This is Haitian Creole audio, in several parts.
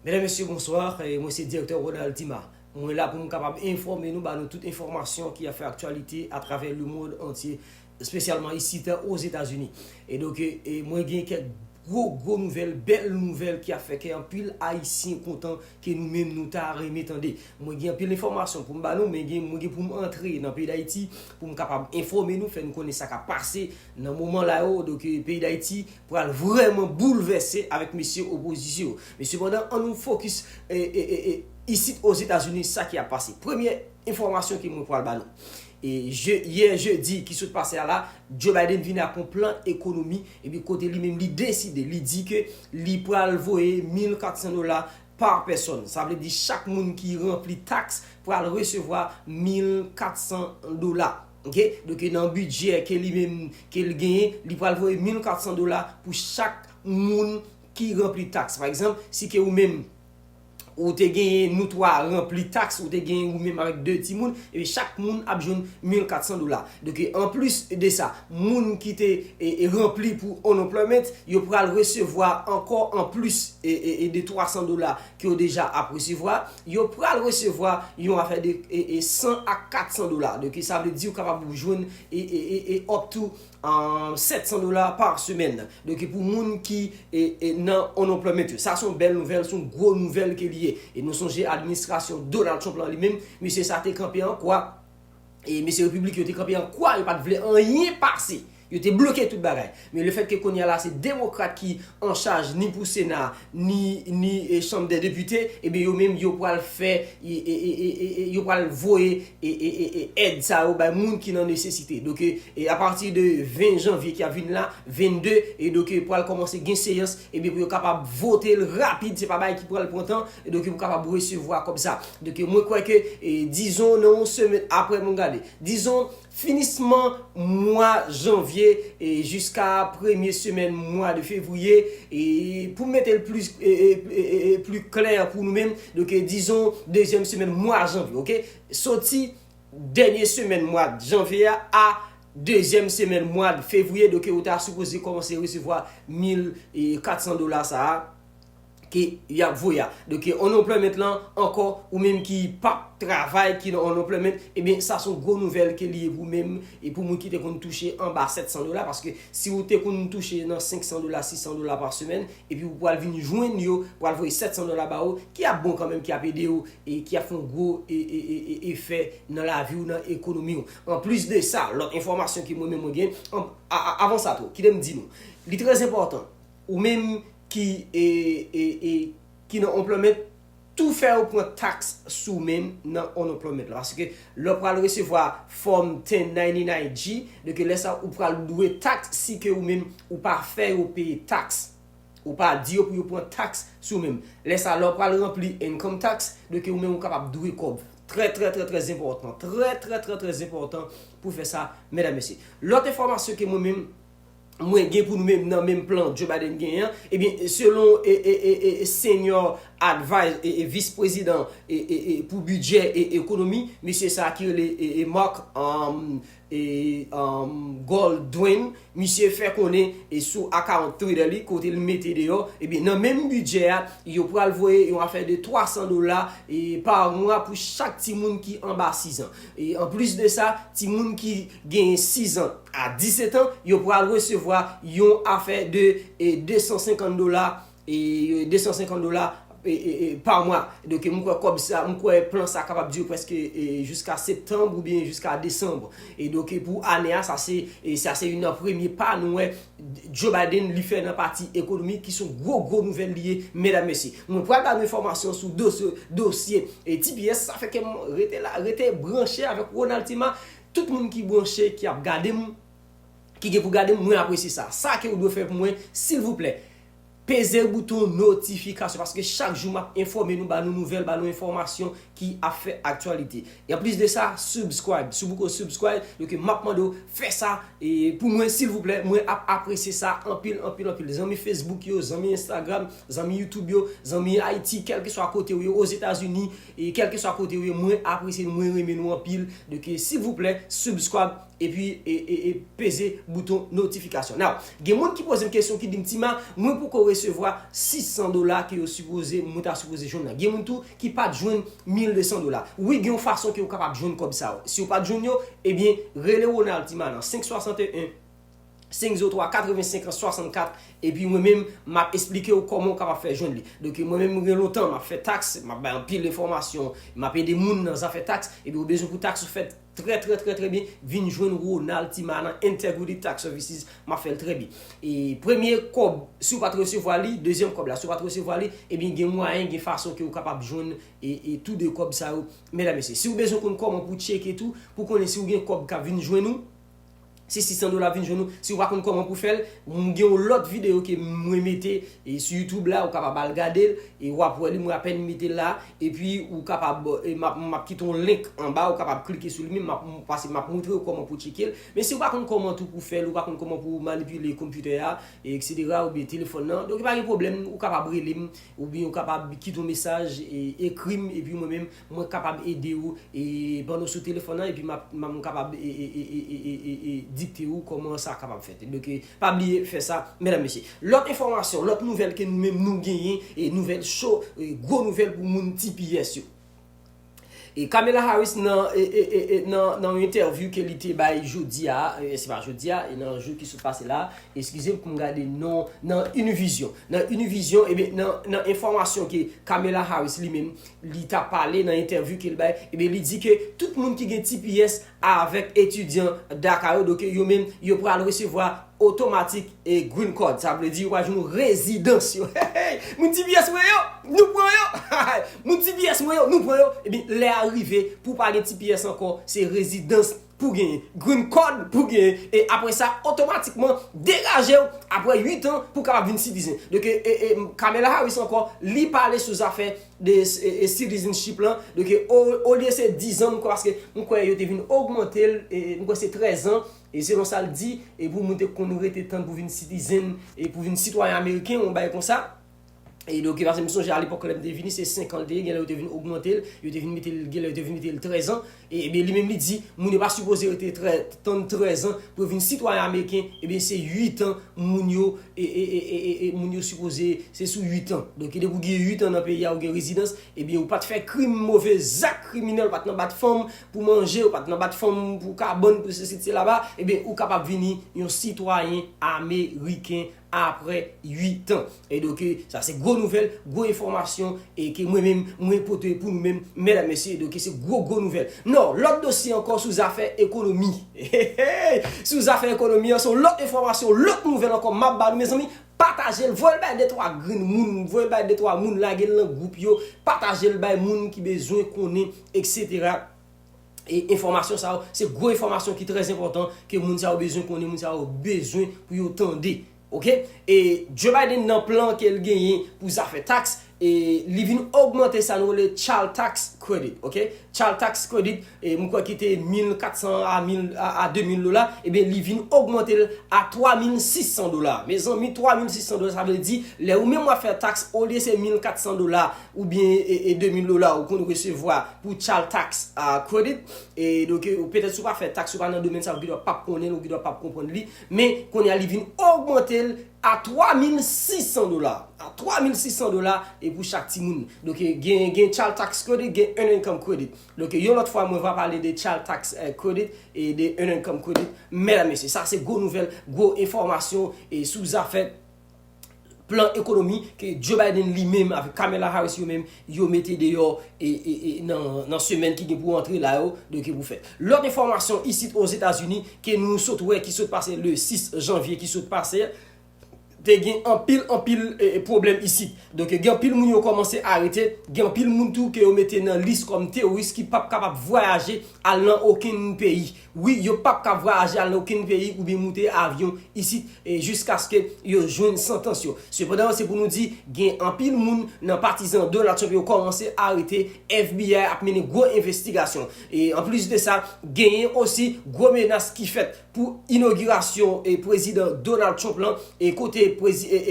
Medam mesye bonsoir mwen se direktè Ronald Dima mwen la poum kapab enfòme nou ba nou tout enfòmasyon ki ap fè aktyalite atravè le mond antye espesyalman isit ozetazini e donk mwen gen kèk gwo gwo nouvèl bèl nouvèl ki ap fè kè anpil ayisyen kontan ke nou menm nou ta renmen tande mwen gen anpil enfòmasyon poum ba nou men gen mwen gen poum antre nan peyi dayiti poum kapab enfòme nou fè nou konnen sa kap pase nan moman la yo donk peyi dayiti pral vrèman boulvèse avèk mesye opozisyon yo. Men sepandan an nou fokis isit Ozetazini sa ki ap pase. Premye enfòmasyon ke mwen pral ba nou. Yè jedi ki sot pase a la, Joe Biden vini ak yon plan ekonomi epi kote li menm li deside, li di ke li pral voye 1400 dola pa pèsòn. Sa vle di chak moun ki ranpli taks pral resevwa 1400 dola. Ok doke nan bidjè ke li menm ke li genyen li pral voye 1400 dola pou chak moun ki ranpli taks pa egzanp si ke ou menm ou te genyen nou 3 ranpli taks ou te genyen ou menm avèk 2 ti moun ebyen chak moun ap jwenn 1400 dola doke anplis de sa moun ki te ranpli pou unemployment yo pral resevwa ankò anplis de 300 dola ke yo deja ap resevwa, yo pral resevwa yon afè de 100 a 400 dola. De ki sa vle di ou kapab ou jwenn e up to 700 dola par semèn. De ki pou moun ki nan unemployment yo. Sa son bèl nouvèl, son gwo nouvèl ke li ye. E nou sonje administrasyon Donald Trump lan li menm, misye sa te kanpe an kwa. e mesye Repiblik yo te kanpe an kwa, yo pa t vle anyen pase. Yo te bloke tout bagay. Men le fèt ke kounye a la se Demokrat ki an chaj ni pou Sena a, ni Chanm dè Depite, ebyen yo menm yo pral fè, yo pral voye èd sa yo bay moun ki nan nesesite. Donk e a pati de 20 janvye ki ap vin la, 22, e donk pral kòmanse gen seyans, ebyen pou yo kapab vote l rapid, se pa bagay ki pral pran tan. E donke ou kapab resevwa kòb sa. Donke mwen kwè ke e dizon nan yon semen apre mwen gade. Dizon finisman mwa janvye e jiska premye semen mwa de fevriye e pou mete l plis e e e e pli klè pou nou menm donke dizon dezyèm semen mwa janvye ok. Soti dènye semen mwa janvye a a dezyèm semen mwa fevriye donke ou ta sipoze kòmanse resevwa mil e 400 dola sa a. ke yap voye a. Donk unemployment lan ankò ou menm ki pap travay ki nan unemployment ebyen sa son gwo nouvèl ke li ye pou menm e pou moun ki te konn touche anba 700 dola paske si ou te konn touche nan 500 dola 600 dola pa semèn epi ou pwal vin jwenn yo pwal voye 700 dola ba ou ki ap bon kanmenm ki ap ede ou e ki ap fon gwo efè nan lavi ou nan ekonomi ou. Anplis de sa lòt enfòmasyon ke mwen menm mwen gen avan sa tou kitem di nou li trèzenpòtan ou menm ki e ki nan unployment tou fè yo pran tax sou men nan unemployment la paske lè w pral resevwa fòm 1099 G de ke lè sa ou pral dwe tax si ke ou menm ou pa fè yo peye tax ou pa di yo pou yo pran tax sou menm lè sa lè w pral ranpli income tax de ke ou menm ou kapab dwe kòb trè trè trè trè enpòtan trè trè trè trè enpòtan pou fè sa mèdam mesye lòt enfòmasyon ke mwen menm. mwen gen pou nou menm nan menm plan Joe Biden genyen an, ebyen selon senior adviser e vice president pou bidjè e ekonomi, mesye sa a ki rele Mark Goldwin, misye fè konnen sou account Twitter li kote li mete deyò, ebyen nan menm bidjè a yo pral voye yon afè de 300 dola par mwa pou chak timoun ki anba 6 ans. Anplis de sa, timoun ki gen 6 an a 17 an, yo pral resevwa yon afè de 250 dola, 250 dola pa mwa. Donk m kwè kòb sa, m kwè plan sa kapab dire prèske jiska septanb oubyen jiska desanb. Donk pou ane a, sa se, sa se yon nan premye pa nou wè Joe Biden li fè nan pati ekonomi ki son gwo gwo nouvèl li ye medam mesye. Mwen pral ba nou enfòmasyon sou dosye dosye tps sa fè kèm rete la rete branche avèk Ronald Tima tout moun ki branche ki ap gadem ki gen pou gadem mwen apresye sa sa ke ou dwe fè pou mwen silvouplè Peze bouton notifikasyon paske chak jou map enfòme nou ba nou nouvèl ba nou enfòmasyon ki ap fè aktyalite e anplis de sa subscribe si w poko subscribe yo ke map mande w fè sa pou mwen silvouplè mwen ap apresye sa anpil anpil anpil zanmi Facebook yo zanmi Instagram zanmi YouTube yo zanmi Haïti kèlkeswa kote ou ye Ozetazini kèlkeswa kote ou ye mwen apresye nou mwen renmen nou anpil silvouplè subscribe. Epi peze bouton notification. Now, gen moun ki pozem kesyon ki dim Tima, mwen poko resevwa 600 dola ke yo sipoze mwen ta sipoze jwenn nan. Gen moun tou ki pat jwenn 1200 dola. Wi gen yon fason ke ou kapab jwenn kòb sa yo. Si ou pat jwenn yo, ebyen rele Ronald Tima nan 561 503 85 an 64 epi mwen menm map esplike ou kòman ou kapab fè jwenn li. Donk mwen menm gen lontan map fè tax, map bay anpil enfòmasyon, map ede moun nan zafè tax, ebyen ou bezwen pou tax ou fèt, Trè trè trè trè byen vin jwenn Ronald Tima nan Integrity Tax Services map fèl trè byen e premye kòb si ou pat resevwa li dezyèm kòb la si ou pat resevwa li ebyen gen mwayen gen fason ke ou kapab jwenn e tou 2 kòb sa yo mèdam mesye si ou bezwen konn kòman pou tcheke tou pou konnen si ou gen kòb kap vin jwenn ou Se 600 dola ap vin jwenn ou. Si ou pa konn kòman pou fè l, m gen yon lòt videyo ke mwen mete sou youtube la, ou kapab al gade l, e wap wè li mwen apèn mete l la. Epi ou kapab, m ap kite yon link anba, ou kapab klike sou li menm, m ap pase m ap montre ou kòman pou tcheke l. Men si ou pa konn kòman tou pou fè l, ou pa konn kòman pou manipile konpitè a, eksetera, oubyen telefòn nan, donk pa gen pwoblèm, ou kapab rele m, oubyen ou kapab kite yon mesaj, ekri m, epi mwen menm Mwen kapab ede ou e pandan w sou telefòn nan epi map m kapab e dikte ou kòman sa kapab fèt donk pa bliye fè sa mèdam mesye lòt enfòmasyon lòt nouvèl ke nou menm nou genyen e nouvèl cho e gwo nouvèl pou moun tps yo e Kamala Harris nan e nan nan yon entèvyou ke li te bay jodi a e se pa jodi a e nan jou ki sot pase la eskize m pou m gade non nan Univision nan Univision ebyen nan nan enfòmasyon ke Kamala Harris li menm li ta pale nan entèvyou ke l bay, ebyen li di ke tout moun ki gen tps avèk etidyan DACA yo, doke yo menm yo pral resevwa otomatik e Green Card. Sa vle di yo pral jwenn yon rezidans yo. Heyy! Moun tps mwen yo! Nou pran yo! Hahay! Moun tps mwen yo! Nou pran yo! Ebyen lè a rive pou w pa gen tps ankò, se rezidans pou genyen green card pou genyen e apre sa otomatikman degajew apre 8 an pou kapab vin citizen doke e Kamala Harris ankò li pale sou zafè de citizenship lan doke olye se 10 ans paske m kwè yo te vin ogmantel e m kwè se 13 ans e selon sal di e pou moun te konn rete tann pou vin citizen e pou vin sitwayen ameriken yon bagay konsa. E de okipasyon, m sonje alepòk lè m te vini, se 5 an l te ye, gen lè yo te vin ogmante l, yo te vin mete l, gen lè yo te vin mete l 13 an, e ebyen li menm li di, moun yo pa sipoze rete 13, tann 13 an pou yo vin sitwayen ameriken, ebyen se 8 an moun yo, e, e, e, e, e, moun yo sipoze, se sou 8 an. Donk ki depi ou gen 8 an nan peyi a ou gen rezidans, ebyen ou pa t fè krim, move zak kriminèl, ou pa t nan bat fanm pou manje, ou pa t nan bat fanm pou kabann, pou sesi, pou selaba, ebyen ou kapab vini yon sitwayen ameriken. aprè 8 ans e donk sa se gwo nouvèl gwo enfòmasyon e ke mwen menm mwen pote pou nou menm mèdam mesye e donk se gwo gwo nouvèl nan lòt dosye ankò sou zafè ekonomi eheey sou zafè ekonomi an se yon lòt enfòmasyon lòt nouvèl ankò map ba nou mezanmi patajel voyel bay de twa grenn moun voyel bay de twa moun lagel nan gwoup yo patajel bay moun ki bezwen konnen etc. e enfòmasyon sa yo, se gwo enfòmasyon ki trè enpòtan ke moun sa yo bezwen konnen, moun sa yo bezwen pou yo tande. Ok, e Joe Biden nan plan ke l genyen pou zafè tax, e li vin ogmante sa nou rele Child Tax Credit, ok, Child Tax Credit, e m kwè ki te 1400 a 1000, a 2000 dola, ebyen li vin ogmante l a 3600 dola. Mezanmi 3600 dola sa vle di, lè ou menm wap fè tax olye se 1400 dola oubyen e 2000 dola ou konn resevwa pou Child Tax Credit, e donk ou petèt si w pa fè taks ou pa nan domèn sa yo ou gendwa pap konnen l ou gendwa pap konprann li, men kounye a li vin ogmante l a 3600 dola, a 3600 dola e pou chak timoun. Donk gen gen Child Tax Credit, gen Earned Income Credit. Donk yon lòt fwa mwen va pale de Child Tax Credit e de Earned Income Credit. Mèdam mesye, sa se gwo nouvèl, gwo enfòmasyon e sou zafè plan ekonomi ke Joe Biden li menm avèk Kamala Harris yo menm yo mete deyò nan semèn ki gen pou antre la yo, donk ki pou fèt. Lòt enfòmasyon isit Ozetazini ke nou sot wè ki sot pase le 6 janvye ki sot pase, te gen anpil anpil pwoblèm isit. Donk gen anpil moun yo kòmanse arete, gen anpil moun tou ke yo mete nan lis kòm teworis ki pap kapab vwayaje al nan okenn peyi. Wi, yo pap kab vwayaje al nan okenn peyi oubyen moute avyon isit jiskaske yo jwenn santans yo. Sepandan, se pou nou di, gen anpil moun nan patizan Donald Trump yo kòmanse arete, FBI ap mennen gwo envestigasyon. Anplis de sa, genyen osi gwo menas ki fèt pou inogirasyon Prezidan Donald Trump lan kote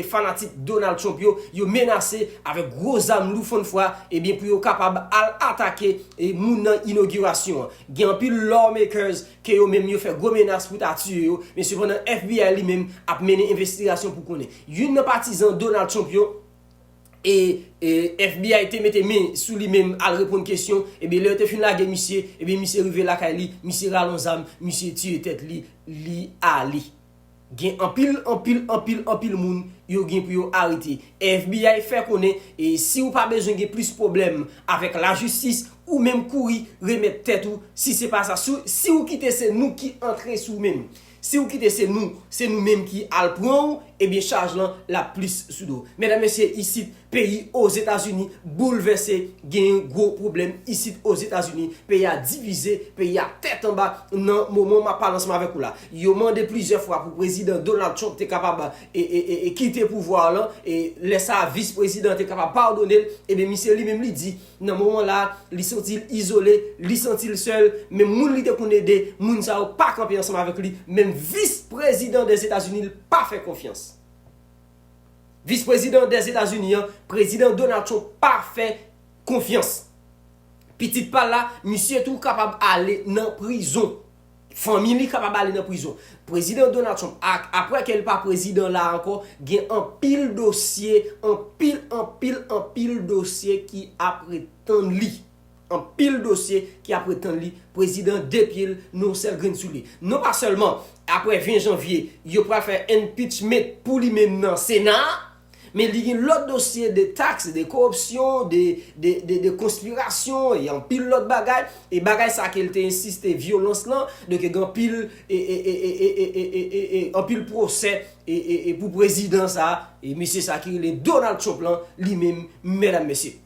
fanatik Donald Trump yo, yo menase avèk gwo zam lou fannfwa pou yo kapab al atake moun nan inogirasyon an. Gen anpil lawmakers ke yo menm yo fè gwo menas pou ta tiye yo, men sepandan FBI li menm ap mennen envestigasyon pou konnen. Youn nan patizan Donald Trump yo e FBI te mete men sou li menm al reponn kesyon, ebyen lè yo te fin lage misye, ebyen misye rive lakay li, misye rale yon zam, misye tiye tèt li, li ale. Gen anpil, anpil, anpil, anpil moun yo gen pou yo arete. FBI fè konnen si ou pa bezwen gen plis pwoblèm avèk lajistis, ou menm kouri remèt tèt ou, si se pa sa, si ou kite se nou ki antre sou ou menm. Si ou kite se nou, se nou menm ki al pran ou, ebyen chaj lan l ap plis sou do w. Medam mesye isit, Peyi Ozetazini boulvèse genyen gwo pwoblèm isit Ozetazini, peyi a divize, peyi a tèt anba nan moman map pale ansanm avèk ou la. Yo mande plizyè fwa pou prezidan Donald Trump te kapab kite pouvwa lan, lè sa vis prezidan te kapab padonel, ebyen misye li menm li di nan moman la li santil izole, li santil sèl, menm moun li te konn ede, moun sa yo pa kanpe ansanm avèk li, menm vis prezidan Dèzetazini li pa fè konfyans. Vis prezidan des Etazini an, Prezidan Donald Trump pa fè konfyans. Pitit pa l la, misye tou kapab ale nan prizon. Fanmi li kapab ale nan prizon. Prezidan Donald Trump, apre ke l pa prezidan la ankò, gen anpil dosye, anpil, anpil, anpil dosye ki ap ret tann li. Anpil dosye ki ap ret tann li, prezidan de pye l nou yon sèl grenn sou li. Non pa sèlman aprè 20 janvye yo pral fè enpitchment pou li menm nan sena a, men li gen lòt dosye de taks, de kowopsyon, de konspirasyon e anpil lòt bagay, e bagay sa ke l te ensiste vyolans lan, donk gen anpil anpil pwosè pou prezidan sa, e mesye sa ki rele Donald Trump lan li menm mèdam mesye.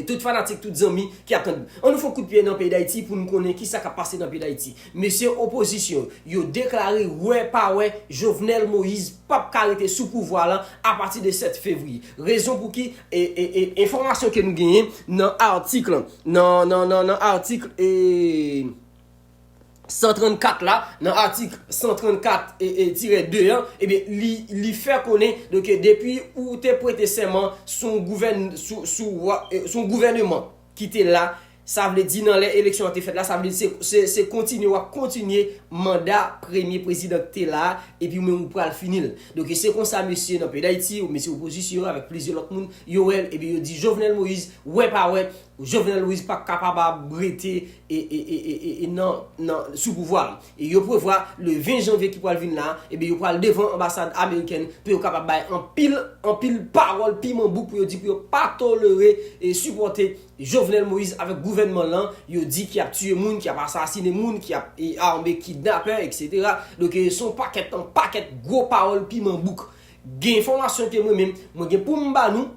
Tout fanatik, tout zanmi ki ap tann. An nou fon kout pye nan peyi Dayiti pou nou konnen ki sa k ap pase nan peyi Dayiti. Mesye opozisyon yo deklare wè pa wè Jovenel Moïse p ap ka rete sou pouvwa lan a pati de 7 fevriye. Rezon pou ki enfòmasyon ke nou genyen nan atik lan nan atik e. 134 la, nan atik 134 tire 2 an, ebyen li fè konnen ke depi ou te prete sèman sou yon gouvèneman ki te la, sa vle di nan lè eleksyon an te fèt la, sa vle di se kontinye wap kontinye manda premye prezidan ki te la, epi ou menm ou pral fini l. Donk se konsa mesye nan peyi Dayiti, mesye opozisyon avèk plizyè lòt moun, yo wè l, ebyen yo di Jovenel Moïse, wè pa wè, Jovenel Moise pap kapab ap rete sou pouvwa a. E yo prevwa le 20 janvye ki pral vin la, ebyen yo pral devan anbasad amerikèn pou yo kapab bay anpil, anpil pawòl piman bouk pou yo di pou yo pa tolere e sipòte Jovenel Moise avèk gouvènman l lan, yo di ki ap tiye moun, ki ap asasine moun, ki ap ame kidnapè etc. Donk se yon pakèt an pakèt gwo pawòl piman bouk. Gen enfòmasyon ke mwen menm, mwen gen pou m ba nou,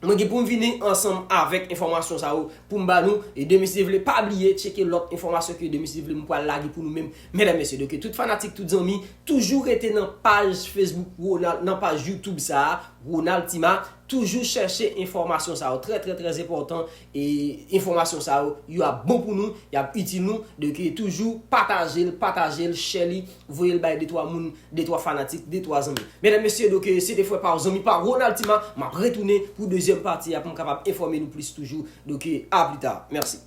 Mwen gen poum vini ansanm avèk enfòmasyon sa yo poum ba nou e demen si Dye vle pa bliye tcheke lòt enfòmasyon ke demen si Dye vle mwen pwal lage pou nou menm medam mesye donke tout fanatik tout zanmi toujou rete nan paj Facebook Ronald nan paj YouTube sa Ronald Tima toujou chèche enfòmasyon sa yo trè trè trè enpòtan E enfòmasyon sa yo, yo ap bon pou nou, y ap itil nou, donk toujou pataje l, pataje l, share li, voye l bay de twa moun, de twa fanatik, de twa zanmi. Medam mesye donk se te frè pa w zanmi pa w Ronald Tima, m ap retounen pou dezyèm pati a pou m kapab enfòme nou plis toujou, donk a pli ta. Mèsi.